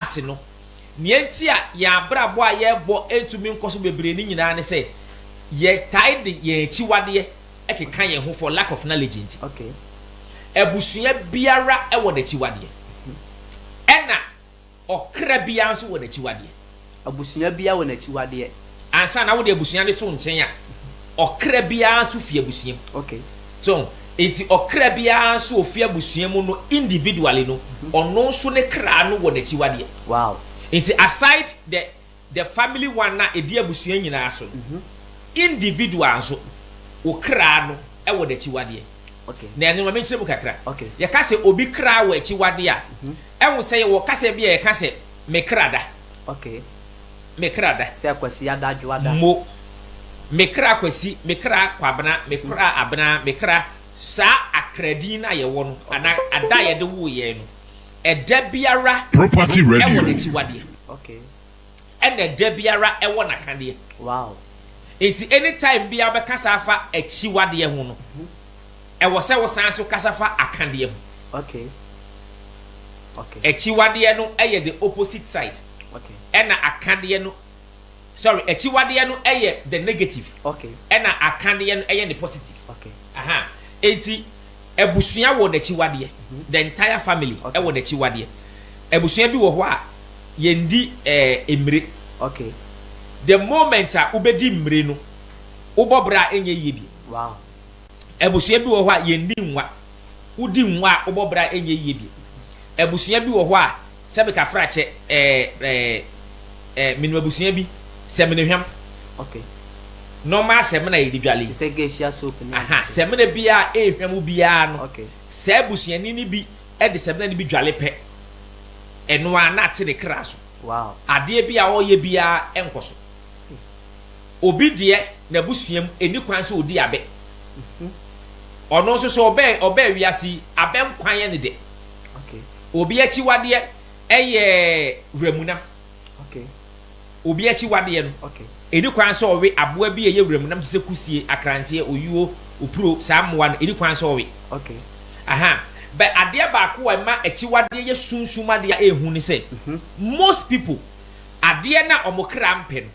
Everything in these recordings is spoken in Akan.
ase no. Nea enti a yɛn abrabɔ a yɛrebɔ ntumi nkɔ so bebree no nyinaa ne sɛ yɛtaa de yɛn akyiwadeɛ keka yɛn ho for lack of knowledge nti. Abusua biara wɔ n'akyiwadeɛ, ɛnna ɔkra biara nso wɔ n'akyiwadeɛ. Abusua biara wɔ n'akyiwadeɛ. ansa na wode abusua no to nkyɛn a, ɔkra biara nso fi abusua mu. Okay. So, enti ɔkra biara nso ofi abusua mu no individually no, mhm. ɔno nso ne kra no wɔ n'akyiwadeɛ. Wow. Enti aside the the family one na ɛdi abusua nyinaa so no, mhm. individual nso wo kra no wɔ n'akyiwadeɛ. Okay. Na ɛno ma menkyerɛ mu kakra. Okay. Yɛka sɛ obi kra wɔ akyiwadeɛ a, mhm. ɛho sɛ yɛwɔ kasa bi a yɛka sɛ me kra da. Okay. me kra da. Sɛ Kwasia da dwoa da. Mo, me kra Kwasi, me kra Kwabena, me kra Abena, me kra, saa akra din no a yɛwɔ no, anaa ada a yɛde woo yɛn no, ɛda biara wɔ n'akyiwadeɛ, ɛna ɛda biara wɔ n'akadeɛ. Nti anytime biara wobɛkasa afa akyiwadeɛ ho no, Ɛwɔ sɛ wosan nso kasa fa akadeɛ ho. Okay. Okay. Akyiwadeɛ no yɛ the opposite side. Okay. Ɛna akadeɛ no, sorry, akyiwadeɛ no yɛ the negative. Okay. Ɛna akadeɛ no yɛ the positive. Okay. Aha. Eti abusua wɔ n'akyiwadeɛ. Mm -hmm. The entire family okay. ɛwɔ n'akyiwadeɛ. Abusua bi wɔ hɔ a yɛndi ɛɛ eh, mmire. Okay. The moment a wobɛdi mmire no, wobɔ bra a ɛnyɛ yie bi. Wow. Abusua bi wɔ hɔ a yɛnni nwa. Wodi nwa a, wobɔ bra ɛnyɛ yie bio. Abusua bi wɔ hɔ a sɛ mekafra kyɛ ɛɛ ɛɛ ɛɛ menim abusua bi sɛminehwam. Okay. Normal sɛmina yɛde dwale yi. Te sɛ geisha soap ne. Aha sɛmina biara a ɛrehwam wo biara no. Okay. Saa abusuani no bi de sɛmina no bi dwale pɛ. Ɛno ara na ate ne kra so. Wow. Adeɛ bi a ɔreyɛ biara nkɔ so. Obi deɛ n'abusua mu ɛnni kwan sɛ ɔdi abɛ. Ɔno nso sɛ ɔbɛ ɔbɛɛ wiase yi, abɛ nkwa yɛ ne dɛ. Obi akyiwadeɛ ɛyɛ wuramunam. Obi akyiwadeɛ no, ɛnni kwan sɛ ɔwe aboa bi a ɛyɛ wuramunam te sɛ kusie, akranteɛ, oyuo, opuro, saa mmoa no, ɛnni kwan sɛ ɔwe. Aha, bɛ adeɛ baako a ɛma akyiwadeɛ yɛ sunsum adeɛ a ɛyɛ hu ne sɛ, most people, adeɛ no a wɔn kra mpɛ no,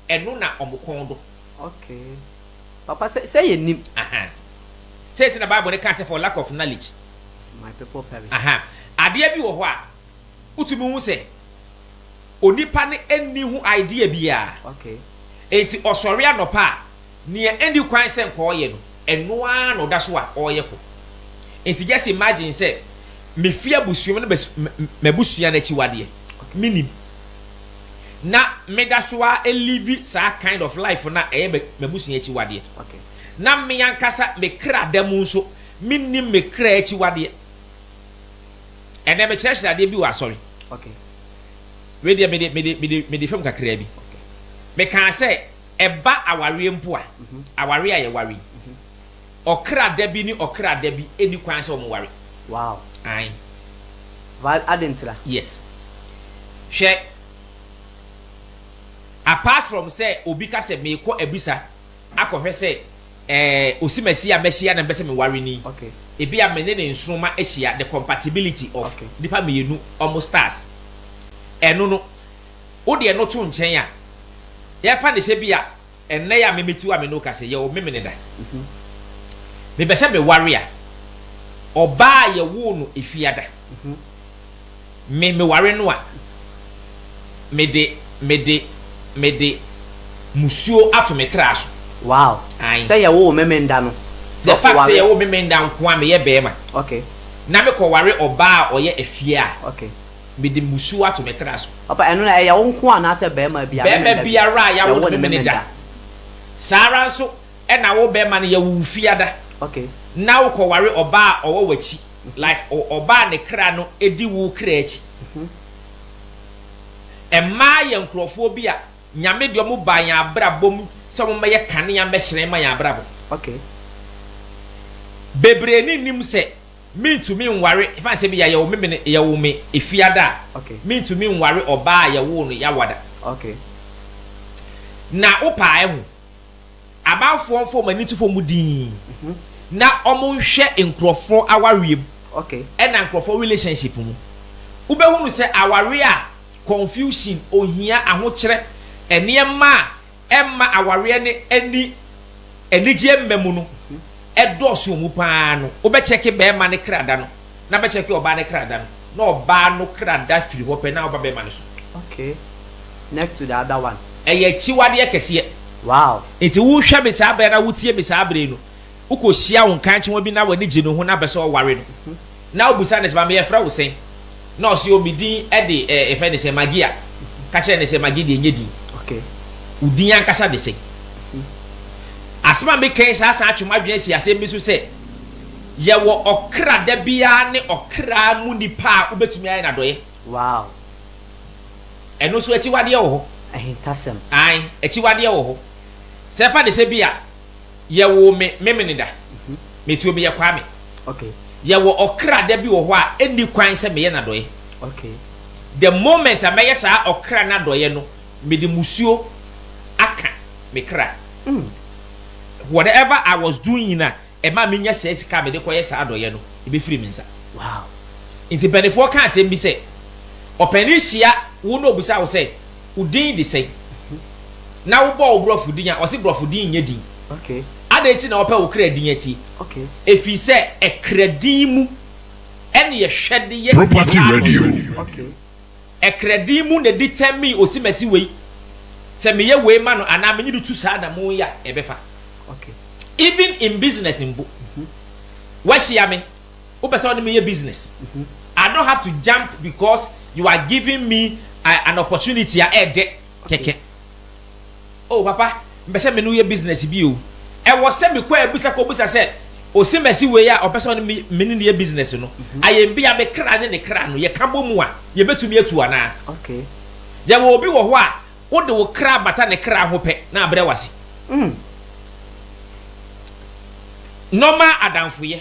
ɛno na wɔn kɔn dɔ. Okay. Papa, sɛ, sɛ yɛnnim. Ahaa. Sei nti na Bible no kaa sɛ, for lack of knowledge. My people perish. Ahaa. Adeɛ bi wɔ hɔ a, wotumi hu sɛ, onipa no nni ho idea biara. Okay. Enti ɔsɔre anɔpa a, Nea enni kwan sɛ nka ɔyɛ no, ɛno ara na ɔda so a ɔreyɛ kɔ. Enti just imagine sɛ mefi abusua mu na m'abusua no akyiwadeɛ, mennim, na meda so ara live saa kind of life no a ɛyɛ m'abusua akyiwadeɛ, na me ankasa me kra da mu nso mennim me kra akyiwadeɛ. Ɛnnɛ mekyerɛkyerɛ adeɛ bi wɔ asɔre, wei deɛ mede fam kakraa bi, mekaa sɛ, Ɛba awareɛ mpo a, awareɛ a yɛware yi, ɔkra da bi ne ɔkra da bi nni kwan sɛ wɔn ware. Wow. Ae. Why, adɛn ntira? Yes. Hwɛ, apart from sɛ obi ka sɛ meekɔ abisa akɔhwɛ sɛ ɛɛ osimasi a mahyia na mepɛ sɛ meware no yi, Okay. ebia me ne ne nsoroma ahyia, the compatibility of Okay. nnipa mmienu wɔn stars. Ɛno no, wode ɛno to nkyɛn a, yɛmfa no sɛ bi a ɛnnɛ yi a memete wo a me ne wo kasa yi, yɛwɔ memene da. Mepɛ sɛ meware a, ɔbaa a yɛwoo no Efiada, me, meware no a, mede, mede, mede musuo ato me kra so. Wow. Ae. Sɛ yɛwoo wo Memenda no, sɛ The fact sɛ ɔkɔware. yɛwoo Memenda nko a meyɛ bɛɛma Okay. na mekɔware ɔbaa a ɔyɛ Afie a, Okay. Mede mmusu ato me kra so. Papa, ɛno no, ɛyɛ wo nko anaasɛ barima biara ne ne Barima da bi? biara a yɛawo no ne me da. Saa ara nso na wo barima no, yɛwo wo Fiada, Okay. na wokɔware ɔbaa a ɔwɔ w'akyi, like o, ɔbaa a ne kra no di wo kra akyi. Mmaa yɛ nkurɔfoɔ bi a Nyame de wɔn baa yɛn abrabɔ mu sɛ wɔmmɛyɛ kanea mmɛhyerɛn mma yɛn abrabɔ. Okay. Bebree nnim sɛ Mintumi nware fa sɛ ebia yɛwo me me no yɛwo me efiada a Okay. mintumi nware ɔbaa a yɛwoo no Yawada. Okay. Na wo paa ehu amanfoɔ nfa wɔn ani nto fam dinn na wɔn nhwɛ nkorɔfoɔ awareɛ mu Okay. ɛna nkorɔfoɔ relationship mu. Wo bɛ hunu sɛ awareɛ a confusion, ohia, ahokyerɛ, nneɛma a ɛma awareɛ no ani anigyeɛ mma mu no dɔɔso wɔ mu pa ara no, wobɛkyɛke barima no kra da no na wobɛkyɛke ɔbaa no kra da no, na ɔbaa no kra da firi hɔ pɛ na woba barima no so. Okay, next to the other one. Ɛyɛ akyiwadeɛ kɛseɛ. Wow. Nti wohwɛ me saa berɛ no a, wotie me saa berɛ yi no, Wokohyia wo nkankyewa bi na w'ani gye ne ho na bɛsɛ ɔware no na wobisa no sɛ, Maame yɛfrɛ wo sɛn? Na ɔse, O me din de eh, yɛfrɛ no sɛ Maggie a, ka kyerɛ no sɛ, Maggie deɛ nyɛ din. Wo din ankasa de sɛn? Asɛm a meka yi saa san twe m'adwene asi asɛm bi so sɛ, yɛwɔ ɔkra da biara ne ɔkra mu nipa a wobɛtumi ayɛ no adɔeɛ. Wow! Ɛno nso akyiwadeɛ wɔ hɔ. Ahintasɛm. Aane, akyiwadeɛ wɔ hɔ. Sɛ fa no sɛ bi a, Yɛwoo me Memeneda. Me too meyɛ Kwame. Yɛwɔ ɔkra da bi wɔ hɔ a ɛnni kwan sɛ meyɛ no adɔeɛ. The moment a mɛyɛ saa ɔkra no adɔeɛ no, mede musuo aka me kra. Whatever I was doing a ɛmaa menya saa sika a mede kɔyɛ saa adɔeɛ no, ɛbɛfiri me nsa. Nti mpaninfoɔ ka asɛm bi sɛ, ɔpanin hyia wo na ɔbisa wo sɛ, Wo din de sɛn? Na wobɔ wo borɔfo din a, wɔse borɔfo din nyɛ din. Adɛn nti na wɔpɛ wo kra din atie? Ɛfiri sɛ ɛkra din mu ɛne yɛhwɛ de yɛ nyaatwom. Ɛkra din mu na determine Osimasi wei, sɛ meyɛ wei ma no anaa menye no tu saa anammɔn yi a, ɛbɛfa. Even in business mpo, woahyia me. wopɛ sɛ wode me yɛ business I don't have to jump because you are giving me uh, an opportunity a ɛɛdɛ kɛkɛ oh papa mpɛ sɛ me ne woyɛ business bi o ɛwɔ sɛ mekɔ abisa kɔbisa sɛ ɔsi mɛsi wei a ɔpɛ sɛ ɔne me me ne ne yɛ business no ayɛ bi a me kra ne ne kra no yɛka bɔ mu a yɛbɛtumi atu anaa okay yɛwɔ obi wɔ hɔ a wode wo kra bata ne kra ho pɛ na abrɛ wase mm. normal adamfoyɛ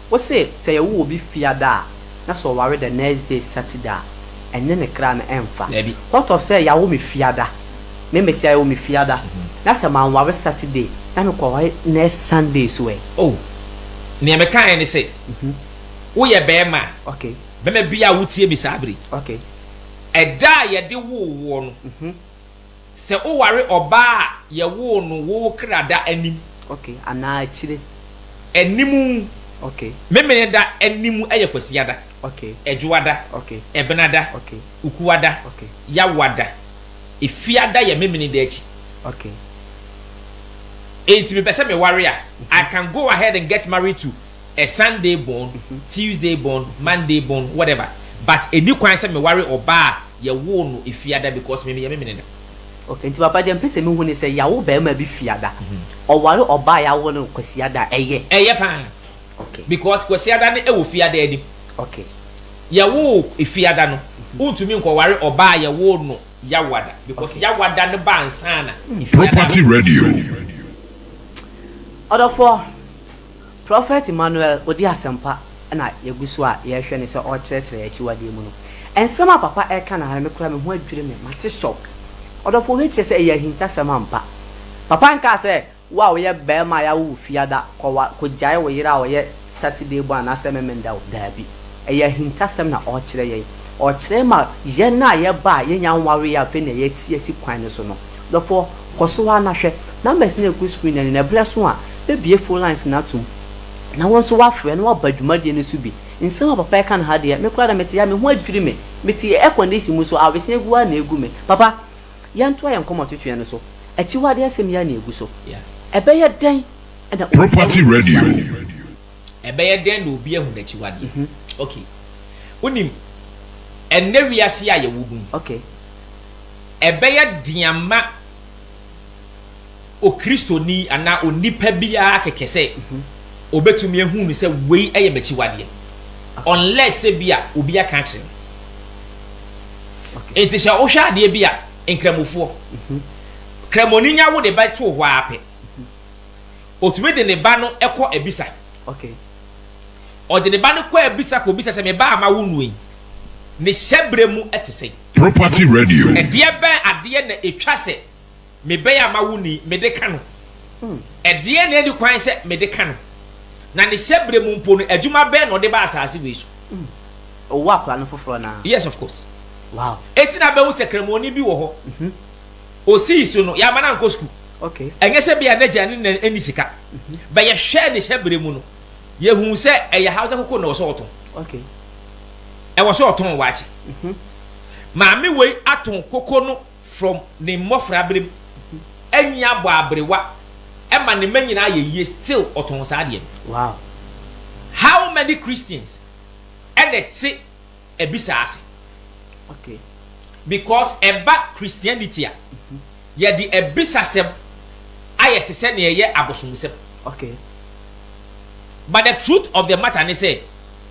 Wose sɛ yɛwo obi fiada a na sɛ ɔware the next day Saturday a ɛne ne kra no ɛmfa. What of sɛ yɛawo me fiada, me mete a yɛwo me fiada na sɛ manware Saturday na mekɔware next Sunday so ɛ? Oh, nea mekaeɛ ne sɛ woyɛ barima a, barima biara a wotie me saa bere yi, ɛda a yɛde woo woɔ no, Sɛ woware ɔbaa a yɛwoo no wo kra da anim. Okay, anaa akyire. Anim. Okay. Memeneda anim yɛ Kwasiada. Okay. Adwoada. Okay. Ɛbenada. Okay. Ukuada. Okay. Yawoada. Efiada yɛ Memeneda akyi. Okay. Enti mepɛ sɛ meware a, I can go ahead and get married to. a Sunday born, Tuesday born, Monday born, whatever but ɛnni kwan sɛ meware ɔbaa a yɛwoo no Fiada because me meyɛ me mene no. Okay, nti papa deɛ mpɛ sɛ mehu ne sɛ yɛawo barima bi Fiada, ɔware ɔbaa a yɛawo no Kwasiada a, ɛyɛ? Ɛyɛ paa, Okay. because Kwasiada no wɔ Fiada anim. Okay. Yɛwoo Fiada no, wontumi nkɔware ɔbaa a yɛwoo no Yawada because Okay. Yawada no ba ansa na Fiada no. Property Radio. Ɔdɔfoɔ. Prɔfɛt Emmanuel ɔdi asɛmpa na yɛgu so a yɛrehwɛ no sɛ ɔrekyerɛkyerɛ akyiwadeɛ mu no. Nsɛm a papa reka no ara me koraa me ho adwiri me, mate shock. Ɔdɔfoɔ wei kyerɛ sɛ ɛyɛ ahintasɛm ampa. Papa nkaa sɛ wo a woyɛ barima a yɛawo wo fiada kɔwa kɔgyae wo yere a ɔyɛ Saturday born anaasɛ Memenda o, daabi. Ɛyɛ ahintasɛm na ɔrekyerɛ yɛn. Ɔrekyerɛ ma yɛn a yɛba a yɛnnya nwareeɛ a afei na yɛte asi kwan no so no. Dɔfoɔ, kɔ so ara na hwɛ. Numbers no regu screen no anim, na ɛberɛ so a, bɛbue phone lines no atom, na wo nso woafrɛ na woaba dwumadie no so bi. Nsɛm a papa reka no ha deɛ, me koraa deɛ mete ha, me ho adwiri me. Mete air condition mu nso, awese agu ara na ɛregu me. Papa, yɛntoa yɛn nkɔmmɔtwetweɛ no so. Akyiwadeɛ nsɛm yi ara na ɛgu so. Ɛbɛyɛ dɛn na wobɛtumi ahu Property Radio. Ɛbɛyɛ dɛn na obi ahu n'akyiwadeɛ? Ok, wonim, ɛnnɛ wiase yi a yɛwɔ mu yi, ɛbɛyɛ den ama Okristoni anaa onipa biara kɛkɛ sɛ ɔbɛtumi ahu no sɛ wei yɛ m'akyiwadeɛ, unless sɛ bi a obi aka akyerɛ no. Enti sɛ wohwɛ adeɛ bi a, Nkramofoɔ, Kramoni nya wode bɛto hɔ ara pɛ. Ɔtumi de ne ba no kɔ abisa. Ɔde ne ba no kɔ abisa kɔbisa sɛ, Me ba a mawo noɔ yi, ne hyɛberɛ mu te sɛn? Property Radio. Ɛdeɛ bɛn adeɛ na ɛtwa sɛ me ba yi a mawo no yi, mede ka no? Ɛdeɛn na ɛnni kwan sɛ mede ka no? Na ne hyɛberɛ mu mpo no, adwuma bɛn na ɔde ba asase wei so? Ɔwoo akwadaa no foforɔ anaa? Yes, of course. Wow. Enti na bɛhu sɛ Kramoɔni bi wɔ hɔ. osii so no, yɛamma no ankɔ sukuu. Ɛnyɛ sɛ ebia n'agya ne na nni sika, mhm. but yɛhwɛɛ ne hyɛbere mu no, yɛhuu sɛ ɛyɛ hausa koko na ɛwɔ sɛ ɔtɔn. Ɛwɔ sɛ ɔtɔn waakye. Mhm. Maame wei atɔn koko no from ne mmɔfra berem, mhm. anyi abɔ aberewa, ɛma ne mma nyinaa yɛ yie, still ɔtɔn saa adeɛ no. How many Christians ɛna ɛte abisa ase. Okay. Because ɛba Christianity a, yɛde abisasɛm ayɛ te sɛ nea ɛyɛ abosomsɛm. Okay. But the truth of the matter ne sɛ,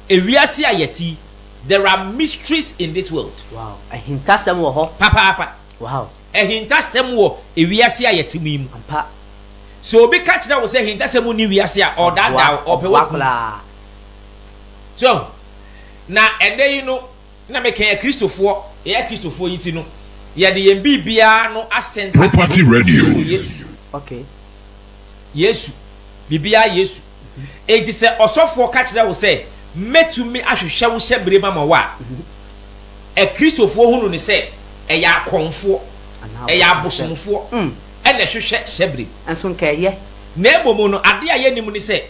ewiase a yɛte yi, there are mysteries in this world. Wow. Ahintasɛm wɔ hɔ. Papaapa. Wow. Ahintasɛm wɔ ewiase a yɛte mu yi mu. Ampa. Sɛ obi ka kyerɛ wo sɛ ahintasɛm nni wiase a, ɔredaadaa wo, ɔpɛ wakum. So, Na ɛda yi no na me kɛn akristofoɔ, yɛ yɛ akristofoɔ yi ti no, yɛde yɛn biribiara no asɛnta ne Property Radio. Kristo Yesu so. Okay. Yesu. Biribiara Yesu. Enti sɛ ɔsɔfoɔ ka kyerɛ wo sɛ, Mɛtumi ahwehwɛ wo hyɛbere ma ma wo a, akristofoɔ hunu no sɛ ɛyɛ akɔmfoɔ, Anaa ɛyɛ abosomsɛm. abosomfoɔ Mm. ɛna ɛhwehwɛ hyɛbere. Nso nka ɛyɛ. Na mmom no, adeɛ a yɛnnim ne sɛ,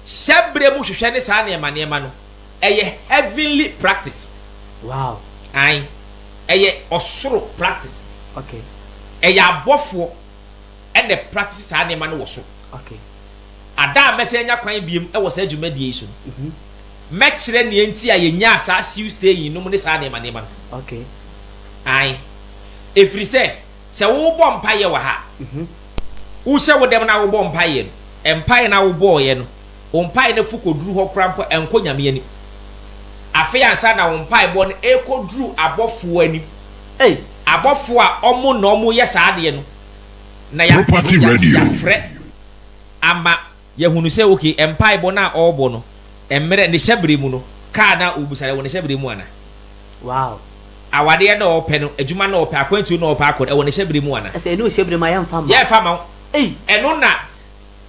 hyɛbere mu hwehwɛ ne saa nneɛma nneɛma no. ɛyɛ heavenly practice wow ae ɛyɛ ɔsoro practice okay ɛyɛ abɔfoɔ ɛna ɛpractice saa nneɛma no wɔ soro okay ada a mɛsɛ anya kwan biom ɛwɔ saa dwumadie yi so no mm-hmm. mɛkyerɛ nea nti a yɛnyaa saa siw sɛyi nom ne saa nneɛma nneɛma no okay ae ɛfiri sɛ sɛ wobɔ mpaeɛ wɔ ha mm-hmm. wohyɛ wo dɛm na wobɔ mpaeɛ no mpaeɛ na wobɔɔyɛ no Wo mpae no fo koduru hɔ koraa mpo a, ɛnkɔ Nyame anim. Afei ansa na wo mpaebɔ no rekɔduru abɔfoɔ anim, ei, abɔfoɔ a wɔn na wɔyɛ saa adeɛ no, na yɛ, Property Radio. yɛafrɛ ama yɛahunu sɛ, ok, mpaebɔ no a ɔrebɔ no, mmerɛ, ne hyɛberɛ mu no, kaa no a ɔrebisa no, ɛwɔ ne hyɛberɛ mu anaa? Wow. Awadeɛ no a ɔrepɛ no, adwuma no a ɔrepɛ, akwantuo no a ɔrepɛ akɔ no, ɛwɔ ne hyɛberɛ mu anaa? Ɛsɛ ɛne wo hyɛberɛ mu a, yɛmfa mma wo. Yɛmfa mma wo. Ei! Ɛno na.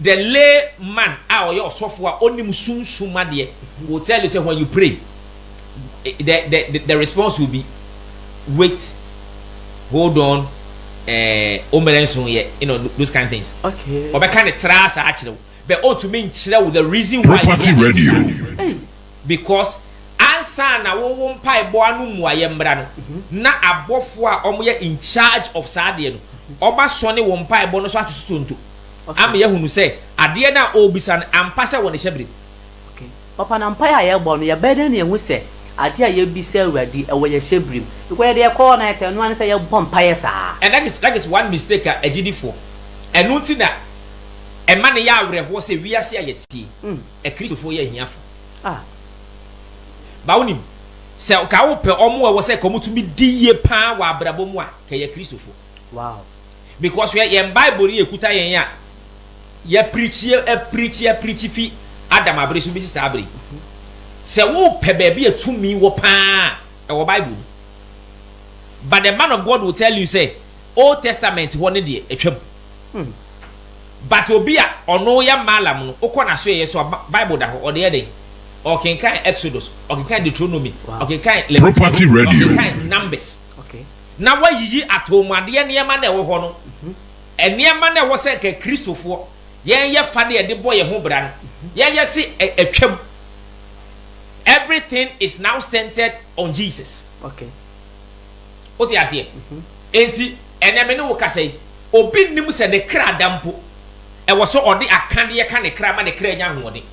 The lay man a ɔyɛ ɔsɔfo a ɔnim sunsum adeɛ will tell you sɛ when you pray the the the, the response will be wait hold on ɛɛ omere nson yɛ you know those kind things Okay. ɔbɛka ne tra saa akyerɛ wo but ɔntumi nkyerɛ wo the reason why Property ɛyɛ adeɛ Radio. Hey. because ansa na wo wo mpaebɔ ano mmuaeɛ mmra no na abɔfoɔ a wɔyɛ in charge of saa adeɛ no wɔasɔne wo mpaebɔ no so ato so tonto ama yɛahunu sɛ adeɛ no a ɔrebisa no, ampa sɛ wɔ ne hyɛberem. Papa, na mpaeɛ a yɛbɔ no, yɛbɛyɛ dɛn na yɛahu sɛ adeɛ a yɛrebisa Awurade, ɛwɔ yɛn hyɛberem? Because yɛde yɛn kɔɔ na yɛtɛɛ, ɛno ara ne sɛ yɛbɔ mpaeɛ saa. And that is, that is one mistake a agyidifoɔ, ɛno nti na ɛma no yɛ awerɛhoɔ sɛ wiase a yɛte yi, Akristofoɔ yɛ ahiafoɔ. Ah. Ba wonim, sɛ nka wopɛ wɔn a ɛwɔ sɛ nka wɔtumi di yie pa ara wɔ abrabɔ mu a, nka yɛ Akristofoɔ. Wow. Because hwɛ yɛn bible no yɛkuta yɛn a yɛ preachi yɛ preachi yɛ preachi fi Adam abere so besi saa abere yi. Sɛ wopɛ baabi a tumi wɔ paa a ɛwɔ bible mu. But the man of God will tell you sɛ old testament hɔ no deɛ atwam. But obi a ɔno yɛ maalam no wokɔ n'asoɛeɛ so a Bi- bible da hɔ ɔde yɛ dɛn? Ɔkenkan Exodus, ɔkenkan Deuteronomy, Wow. ɔkenkan Leviticus, Property Radio. ɔkenkan Numbers. na wɔayiyi atomuadeɛ nneɛma no a ɛwɔ hɔ no, nneɛma no a ɛwɔ sɛ nka Kristofoɔ yɛyɛ fa de ɛde bɔ yɛn ho bra no, yɛyɛ se atwam. Everything is now centered on Jesus. Wote aseɛ? Enti ɛnɛ me ne wo kasa yi, obi nnim sɛ ne kra da mpo, ɛwɔ sɛ ɔde akadeɛ ka ne kra ma ne kra nya ahoɔden.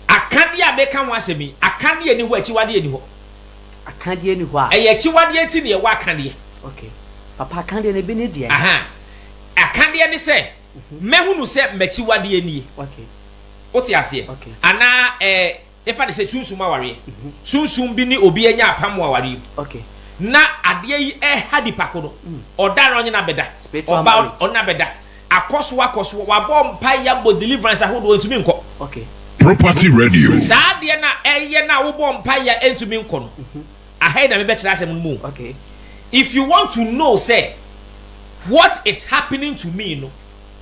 Akadeɛ a meka ho asɛm yi, akadeɛ nni hɔ a akyiwadeɛ nni hɔ. Akadeɛ nni hɔ a. Ɛyɛ akyiwadeɛ nti na yɛwɔ akadeɛ. Ok. Papa, akadeɛ no, ebi ne deɛn? Aha. Akadeɛ ne sɛ, mɛhunu sɛ m'akyiwadeɛ nie. Ok. Wote aseɛ? Ok. Anaa ɛɛ, yɛmfa no sɛ sunsum awareɛ. Sunsum bi ne obi anya apam wɔ awareɛ mu. Ok. Na adeɛ yi reha nipa ko no, ɔda anaa ɔnye no abɛda? Spiritual marriage. Ɔba, ɔne no abɛda. Akɔ so akɔ so. Wabɔ mpaeɛ abɔ deliverance ahodoɔ ɛntumi nkɔ. Okay. Property radio. Saa adeɛ no a ɛyɛ no a wobɔ mpaeɛ a ɛntumi nkɔ no, aha yi na mebɛkyerɛ asɛm no mu o. Okay. If you want to know sɛ what is happening to me no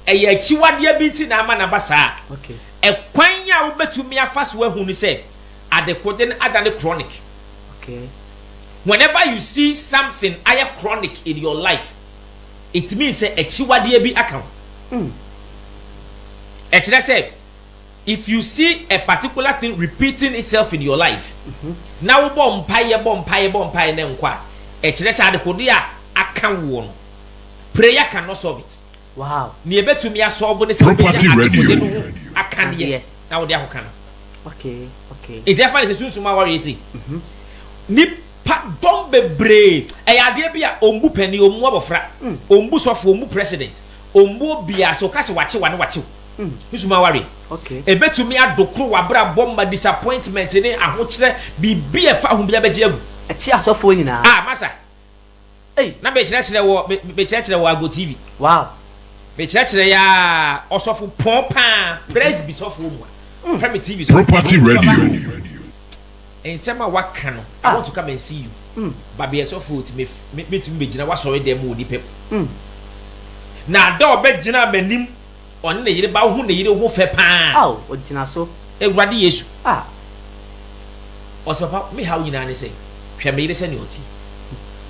ɛyɛ akyiwadeɛ bi nti na ama no aba saa a, Okay. ɛkwan a wobɛtumi afa so ahu no sɛ adekode no adane chronic. Okay. Whenever you see something ayɛ chronic in your life, Etumi sɛ akyiwadeɛ bi aka wo. Ɛkyerɛ sɛ if you see a particular thing repeating itself in your life na wo bɔ mpaeɛ bɔ mpaeɛ bɔ mpaeɛ na ɛnkɔ a, ɛkyerɛ sɛ adekodeɛ a aka woɔ no prayer can not solve it. Nea ɛbɛtumi a solve ne sɛ wobɛnya adekodeɛ no ho akadeɛ na wode akɔka no. Nti ɛfa no sɛ sunsum a wɔyɛ sei. Pa dɔm bebree. Ɛyɛ adeɛ bi a ɔmbu panin, ɔmmu abɔfra, ɔmbu sɔfo, ɔmbu president, ɔmmu obiara. Sɛ ɔka sɛ wakye wo a, na wakye wo. Nso ma awareɛ. Ɛbɛtumi adokoro w'abrabɔ ma disappointment ne ahokyerɛ, biribi a ɛfa ho biara bɛgye agu. Ɛkye asɔfoɔ nyinaa. Ah, masa. Ei! Na me kyerɛkyerɛ wɔ me me kyerɛkyerɛ wɔ Agbo TV. Wow! Me kyerɛkyerɛ yɛ aa ɔsɔfo pɔn paa presby sɔfoɔ mua fɛ me TV so. Property Radio. Nsɛm a waka no I want to come and see you Babeɛ sɔfoɔ ti me me mɛtumi bɛgyina w'asɔredɛm mu wɔ nipam na da ɔbɛgyinaa m'anim Ɔne ne yere ba wohu ne yere ho fɛ paa. Ao ogyina so. Awurade Yesu. Ah. Ɔsɛ papa me haw nyinaa ne sɛ hwɛ me yere sɛnea ɔte yi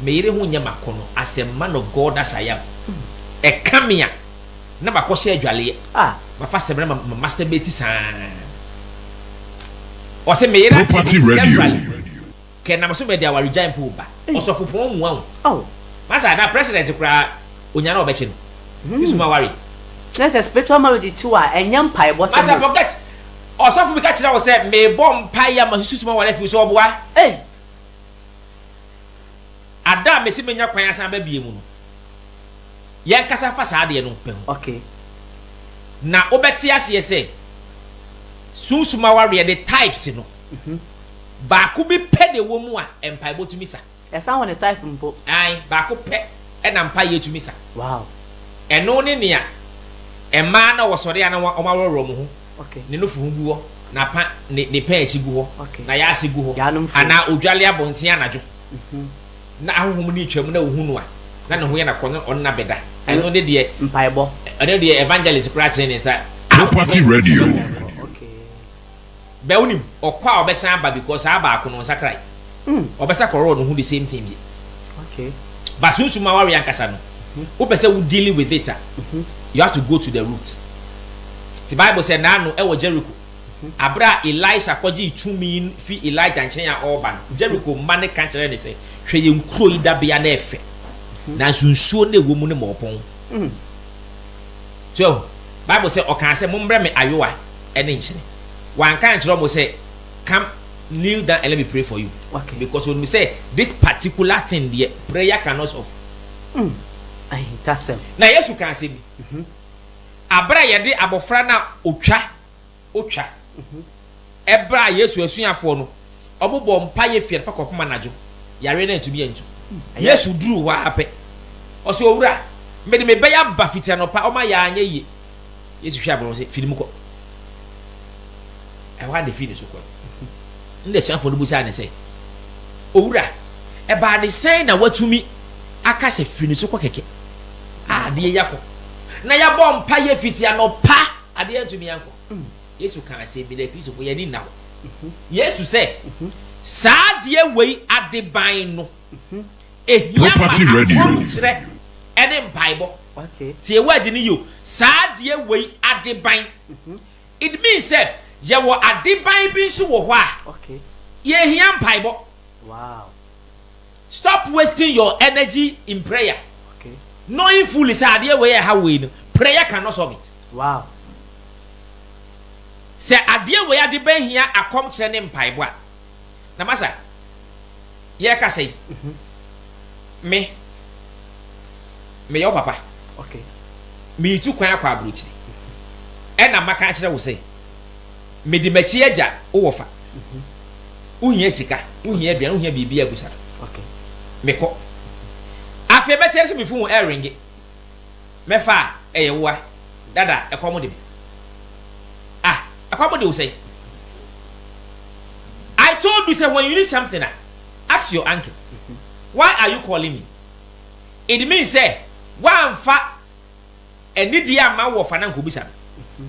me yere ho nyɛ makɔnɔ as a man of God as I am ɛka me a na makɔ hyɛ adwaleɛ ah. mafa sɛmina ma ma masturbate saa ɔsɛ me yere ate ho severally. Kɛ nam so bɛde awaregyae mpo ba ɔsɔfopɔn mu a o. Masa a na president koraa onya na ɔbɛkye no ne sum aware. Kyerɛ sɛ spiritual marriage kye wo a ɛnyɛ mpaebɔ sɛm o. Masa forget ɔsɔfo bi ka kyerɛ wo sɛ mebɔ mpae a masusu sum aware afi wo so ɔboa? Ei. Ada a mesi menya kwan asan aba bio mu no yɛnkasa mfa saa adeɛ no pɛ ho. Okay. Na wobɛte aseɛ sɛ sunsum awareɛ de types no. Hu. Baako bi pɛ na ɛwɔ mu a mpaebɔ tumi sa. Ɛsa wɔ ne type mpo. Ae, baako pɛ na mpaeɛ tumi sa. Wow. Ɛno ne nea mmaa no a wɔsɔre a na wɔaworɔworɔ wɔn ho, Okay. ne nufu ho gu hɔ, na pa, ne, ne pɛn akyi gu hɔ, Okay. na yaase gu hɔ, Yaanom fuo. anaa odwale abɔnten anadwo, na ahonhom no retwam na wohu no a, na ne ho yɛ no akokɔ na ɔne no abɛda. Ɛno- Ɛno ne deɛ, Mpaebɔ. ɛno ne deɛ evangelist koraa tene ne nsa. Property Radio. Mpaebɔ, okay. Bɛ wonim ɔkɔ a ɔbɛsan aba because saa baako no ɔnsakrae ɔbɛsa kɔrɔɔ no ho the same thing bio but sunsum awareɛ ankasa no wopɛ sɛ wo dealing with it a you have to go to the root te bible sɛ naano ɛwɔ Jericho aberɛ a Elisha kɔgyee tumi fi Elijah nkyɛn a ɔreba no Jericho mma no ka kyerɛ ne sɛ hwɛ yɛn kuro yi dabea no ɛfɛ nanso nsuo no ɛwɔ mu no ma ɔpɔn So yɛahu? Bible sɛ, Ɔkaa sɛ, Mommrɛ me ayowa ne nkyene. Wanka ankyerɛ wɔn sɛ, Come, kneel down and let me pray for you. Okay. Because onim sɛ, this particular thing deɛ, prayer cannot solve. Mm, ahintasɛm. Na Yesu kaa asɛm bi. Mhm. Abere a yɛde abɔfra no a otwa. otwa. Ɛberɛ a Yesu asuafoɔ no wɔbɔɔ mpaeɛ firi anɔpa kɔpem anadwo, yareɛ no antumi antu. Yesu duruu hɔ ara pɛ, ɔsee, Owura, mede me ba yi aba fiti anɔpa, ɔma yɛɛ a anyɛ yie. Yesu hwɛɛ abɔnɔ sɛ, Fi ne mu kɔ. Ɛhɔ ara na ɛfiri ne so kɔe. Ɛnna asuafoɔ no bisaa no sɛ, Owura, ɛbaa ne sɛn na woatumi aka sɛ, 'Fi ne so kɔ kɛkɛ'? Adeɛ yi akɔ na yɛabɔ mpaeɛ fiti anɔpa. Adeɛ antumi ankɔ. Yesu kaa asɛm bi, na Kristofo, yɛn ani nna hɔ. Yesu sɛ, Saa adeɛ wei adeban no, ɛhia ma akwankyerɛ ne mpaebɔ. Tie word no yie o, saa adeɛ wei adeban. It means sɛ, yɛwɔ adeban bi nso wɔ hɔ a, yɛhia mpaebɔ. Stop wasting your energy in prayer knowing fully sɛ adeɛ wei a ɛhaw wei no prayer can not solve it. Sɛ adeɛ wei ade bɛn hia akɔmkyerɛ ne mpaebɔ a. Na masa yɛrekasa yi me meyɛ wo papa meretu kwan akɔ aburokyire ɛna maka akyerɛ wo sɛ. Medi m'akyi agya wo wɔ fa. Wohia sika, wohia aduane, wohia biribiara busa no. Okay. Mekɔ. Afei bɛteɛ sɛ me fon ɛrenge. Mɛfa a ɛyɛ woa. Dada ɛkɔm de me. Ah, ɛkɔm de wo sɛn? I told you sɛ when you need something a, ask your uncle. Why are you calling me? It means sɛ woamfa Ɛne deɛ ama wo ɔfa no ankɔbisa no.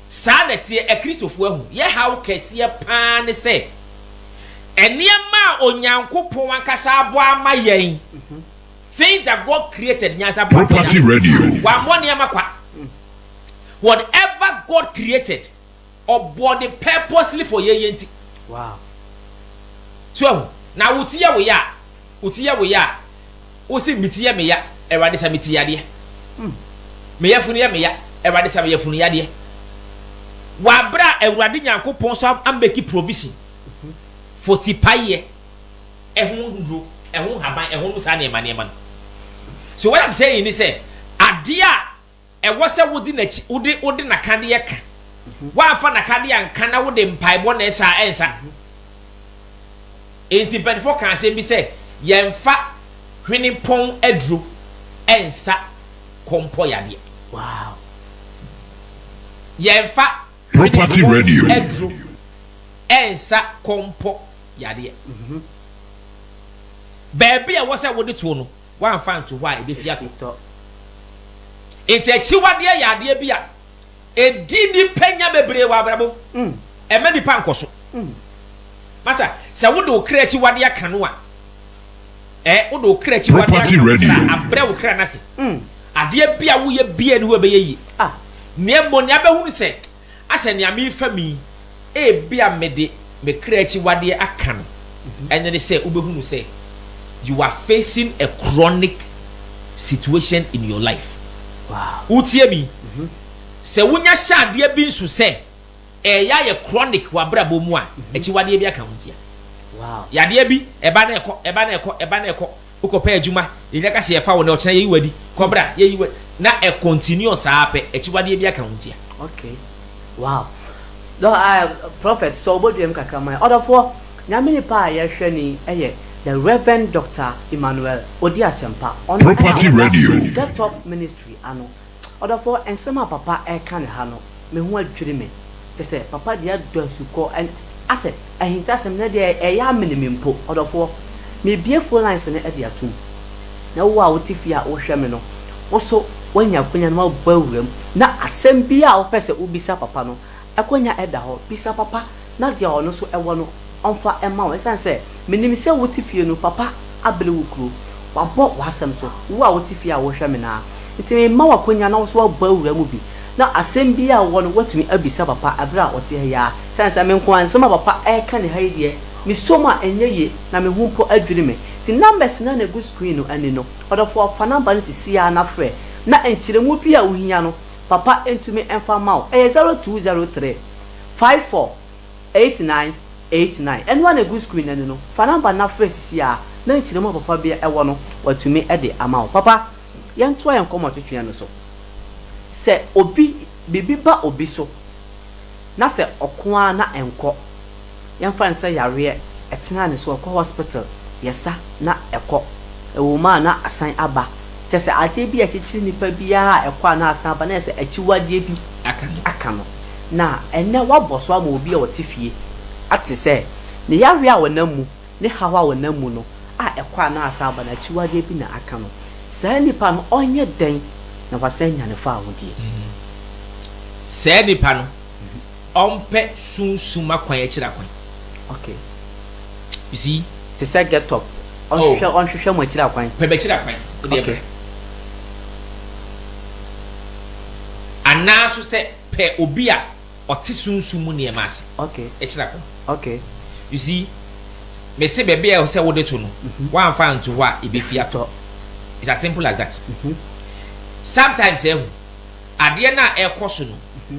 Saa na ɛteɛ, Akristofoɔ ahu. Yɛ haw kɛseɛ pa ara ne sɛ, nneɛma a Onyankopɔn ankasa abɔ ama yɛn, things that God created, nyansafoɔ ampɛ da, wɔammɔ nneɛma kwa. Whatever God created. Ɔbɔ de purposely for yɛyɛ nti. Wow. So ahu? Na wo ti yɛ wo ya a, wo ti yɛ wo ya a, wo se me ti yɛ me ya, Awurade sa me ti yadeɛ. Mm. Me yafunu yɛ me ya, Awurade sa me yafunu yadeɛ. W'abrɛ a Awurade Nyankopɔn so ameki provision mm-hmm. for ti payɛ, ɛho nduro, ɛho haban, ɛho no saa nneɛma nneɛma no. So what I'm saying ni sɛ, adeɛ a Ɛwɔ sɛ wode n'akyi, wode, wode n'akadeɛ ka. Woamfa n'akadeɛ anka na wode mpaebɔ na ɛsa a, ɛnsa. Enti mpanimfoɔ kaa asɛm bi sɛ, yɛmfa hwenepɔn aduro nsa kɔmpɔ yadeɛ. Wow. Yɛmfa hwenepɔn aduro nsa kɔmpɔ yadeɛ. Baabi a ɛwɔ sɛ wode toɔ no, woamfa anto hɔ a ebefi atɔ. Enti akyiwadeɛ yɛ adeɛ bi a ɛdi nnipa nya bebree wɔ abrabɔ mu. Ɛmma nnipa nkɔso. Masa, sɛ wode wo kra akyiwadeɛ aka no a, eh, wode wo kra akyiwadeɛ aka no koraa a, abrɛ wo kra no ase. Adeɛ bi a woyɛ biara nni hɔ a ɛbɛyɛ yie. Nea mmom, nea abɛhunu sɛ. Asɛ nea merefam yi, ebia mede me kra akyiwadeɛ aka no. Ɛno ne sɛ wobɛhunu sɛ you are facing a chronic situation in your life. Wotie me? Sɛ wonya hyɛ adeɛ bi nso sɛ ɛreyɛ ayɛ chronic w'abrabɔ mu a, akyiwadeɛ bi aka wo ntia. Yadeɛ bi, ɛba na ɛkɔ, ɛba na ɛkɔ, ɛba na ɛkɔ. Wokɔ pɛ adwuma, yɛnya ka sɛ yɛfa wo nnɛ, ɔkyena yɛyi wo adi, kɔ bra, yɛyi wo adi, na ɛ continue saa pɛ, akyiwadeɛ biara ka ho ntia. Okay wow dɔ aah prophet sɔ wobɔdua mu kakra ma yɛn ɔdɔfoɔ Nyame nipa a yɛhwɛ ni yɛ the Rev Doctor Emmanuel Odi Asɛmpa ɔno ɛna ɔda Get up ministry ano. Ɔdɔfoɔ, nsɛm a papa reka no ha no, me ho adwiri me. Kyerɛ sɛ, papa deɛ adɔ asukɔ. Asɛ, ahintasɛm no deɛ ɛyɛ amene me mpo. Ɔdɔfoɔ, mebue phone lines no de atom. Na wo a wote fie a wohwɛ me no, wo nso woanya akwanya na woabɔ awuram. Na asɛm biara a wopɛ sɛ wobisa papa no, akwanya da hɔ. Bisa papa. na deɛ ɔno nso wɔ no, ɔmfa mma wo. Ɛsiane sɛ menim sɛ wote fie no, papa abere wo kuro. Wabɔ w'asɛm so, wo a wote fie a wohwɛ me no ara. Enti merema wo akwannya na wo nso woabɔ awura mu bi, na asɛm biara a wowɔ no, woatumi abisa papa berɛ a ɔte ha yi ara. Ɛsiane sɛ me nko ara, nsɛm a papa reka ne ha yi deɛ, mesuam a ɛnyɛ yie, na me ho mpo adwiri me. Enti numbers no a na ɛgu screen no ani no, ɔdɔfoɔ, fa number no sisi ara na frɛ, na nkyerɛmu bi a wohia no, papa ntumi mfa mma wo. Ɛyɛ zero two zero three. Five four eight nine eight nine ɛno ara na ɛgu screen no ani no, fa number no na frɛ sisi ara na nkyerɛmu a papa bi wɔ no watumi de ama wo. Papa, yɛntoa yɛn nkɔmmɔ twetweɛ no so. Sɛ obi, biribi ba obi so na sɛ ɔko ara na ɛnkɔ. Yɛmfa no sɛ yareɛ, ɛtenaa ne so, ɔkɔ hospital, yɛsa na ɛkɔ, ɛwɔ mu a na asan aba. Kyerɛ sɛ adeɛ bi a ɛkyekyere nipa biara a ɛkɔ a na asan aba, na ayɛ sɛ akyiwadeɛ bi aka no. Na ɛnnɛ woabɔ so ama obi a ɔte fie ate sɛ ne yareɛ a ɔnam mu, ne haw a ɔnam mu no a ɛkɔ a na asan aba no akyiwadeɛ bi na aka no. Saa nipa no ɔnyɛ dɛn na wasan anya ne fawodeɛ? Saa nipa no Ɔmpɛ sunsum akwan akyiri akwan. Okay. You see? Te sɛ get up. Ɔnhwehwɛ oh. ɔnhwehwɛ mo akyiri akwan. Pɛ bɛkyiri akwan. Wode okay. brɛ. Anaaso sɛ pɛ obi a ɔte sunsum mu nneɛma ase. Okay. Akyiri akwan. Okay. You see? Mese baabi a sɛ wode to no, mm -hmm. woamfa nto hɔ a ɛbɛfi atɔ. It's as simple as that. Mm -hmm. Sometimes ɛho, eh, adeɛ no a ɛkɔ so no, mm -hmm.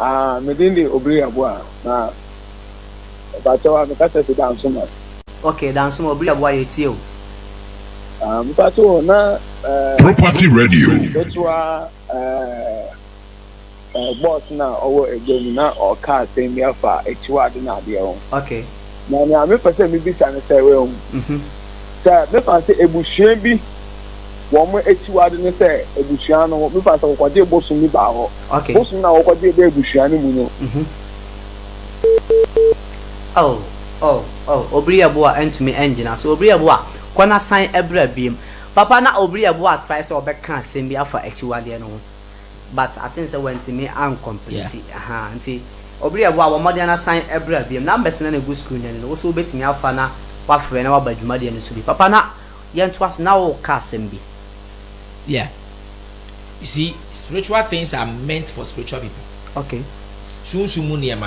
Aah me din de Obiri Aboah na mpakyɛw a me kasa fi Dansoma. Okay Dansoma Obiri Aboah yɛ tie o. Aah mpakyɛw o na eh. Property Radio. Ketewa eh eh boss na ɔwɔ egya mu na ɔka asɛm bi afa akyiwade na adeɛ ho. Okay. Na nea mepɛ sɛ mibisa ne sɛ, woahu, sɛ mefa no sɛ abusua bi wɔn akyiwade ne sɛ abusua no mefa no sɛ wɔkɔgyee bosom bi baa hɔ. Bosom no a wɔkɔgyee baa abusua no mu no. Oh, oh, oh, Obriaboa antumi angyina so. Obriaboa, kɔ na san bra biom. Papa, na Obriaboa atrae sɛ ɔbɛka asɛm bi afa akyiwadeɛ no ho. but aten sɛ wantumi an complete yeah. ahaa nti obi yɛ boa bɔ mmɔden na san ɛbra biam numbers na na egu screen no no woso wobɛtumi afa na wafrɛ na waba dwumadeɛ no so bi papa na yɛntoa so na woka asɛm bi yeah you see spiritual things are meant for spiritual people okay sunsum mu nneɛma no